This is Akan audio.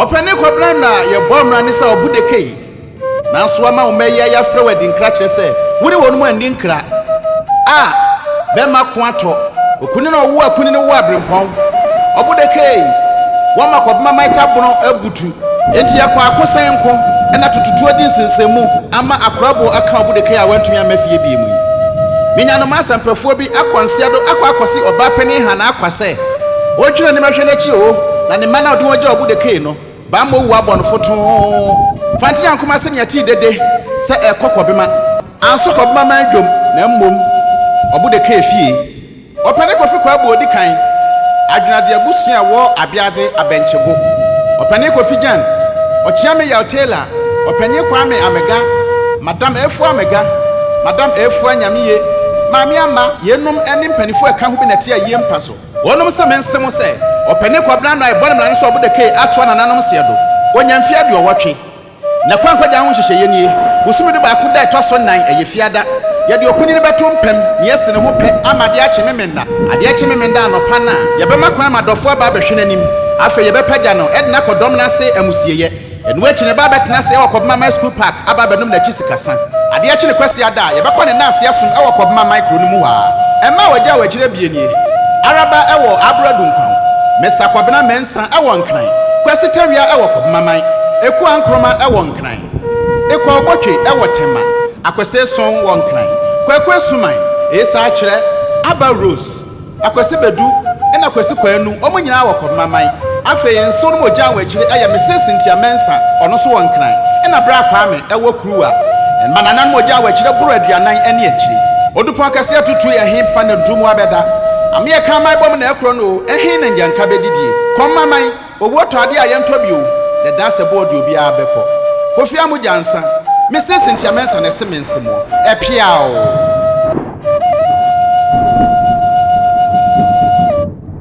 Ɔpɛ ne kɔbena na yɛbɔ mmara ne sɛ ɔbo dekei. Nanso ama wo mma yi ayɛ afrɛ wo adinkra kyerɛ sɛ wo ne wɔnom anni nkra a bɛmma ko atɔ. Okunini na ɔwo akunini wo abrempɔn. Ɔbo dekei, wɔma kɔbema maita bono abutu. Enti yɛkɔ ako sɛn nko na tututuo adi nsensɛnmu ama akorabo aka Obudekei a wantumi amma fie bio mu yi. Menya no m'asɛmpafoɔ bi akɔ nseɛdo akɔ akɔse ɔbaa panin Hannah Akwa sɛ ɔntwi n'anim nhwɛ n'akyi oo na ne mma no a ɔde wɔn gyaa Obudekei no bammɔ wu abɔ no fotoo. Fante ankom ase na yɛtee dede sɛ ɛrekɔ Kɔbema. Anso Kɔbema man dwom na mmom Obudekei fie. Ɔpɛne Kofi Kwarboe odi kan, Adwenadze Abusua a wɔ Abeadze, Abɛnkyebo, Ɔpɛne Kofi Gyan, Ɔkyeame Yaw Taylor, Ɔpɛnye Kwame Amega, Madam Afua Amega, Madam Afua Nyameye, Maame Ama, yeinom ne mpanyinfo a ɛka ho bi na ɛte ayie mpa so. Wɔnom se mense mo sɛ, Ɔpɛne Kwabena Anua Ebɔn Mmara no so ɔbo da kei atoa nananom seɛ do, wɔnya mfie aduɔwɔtwe. Na kwan kɔgyaa ho nhyehyɛeɛ nie, bosome du baako da ɛtɔ so nnan, ɛyɛ Fiada, yɛde okunini bɛto mpam, na yɛasi ne ho pɛ ama adeɛ akye Memeneda. Adeɛ kye Memeneda anɔpa no a, yɛbɛma kwan ama dɔfoɔ aba abɛhwɛ n'anim. Afei yɛbɛpagya no de no akɔ dɔm no ase amusieyɛ. Ɛno akyi no, ɛba abɛtena ase wɔ Kɔbemaman School Park aba abɛnom n'akyi sikasa. Adeɛ kye ne Kwasiada a, yɛbɛkɔ ne nnanse asom wɔ Kɔbemaman kuro no mu hɔ ara. Mma a wɔagyaw akyire abien nie, Araba wɔ Abura Dunkwa ho, Mister Kɔbena, Sa wɔ Nkran. Kwasi Tawia wɔ Kɔbemaman. Ekua Nkroma wɔ Nkran. Ekua Obotwe wɔ Tema. Akwasi Eson wɔ Nkran. Kwaku Asuman, Esa Akyerɛ, Aba Rose, Akwasi Badu na Kwasi Kwaanu, wɔn nyinaa wɔ Kɔbemaman. Afei nsew no ma ogyaa wɔn akyiri yɛ Mrs. Cynthia Mensah, ɔno nso wɔ Nkran, na Bra Kwame wɔ. kuruwa ma nananom ogya a wɔakyerɛ boro aduanan ani akyire. Odupɔn kɛse atutu yɛ he fa na ntu mu abɛda? Ameɛ ka aman bom na ɛkorɔ no o, ɛhe na ngyanka bɛdidie? Kɔm aman, owuo tɔ adeɛ a yɛntɔ bi o, na ɛdaa sɛ boɔ de obiara bɛkɔ. Kofi a mogya nsa, me se Cynthia Mensah na ɛse mense moɔ. Ɛpeaoo!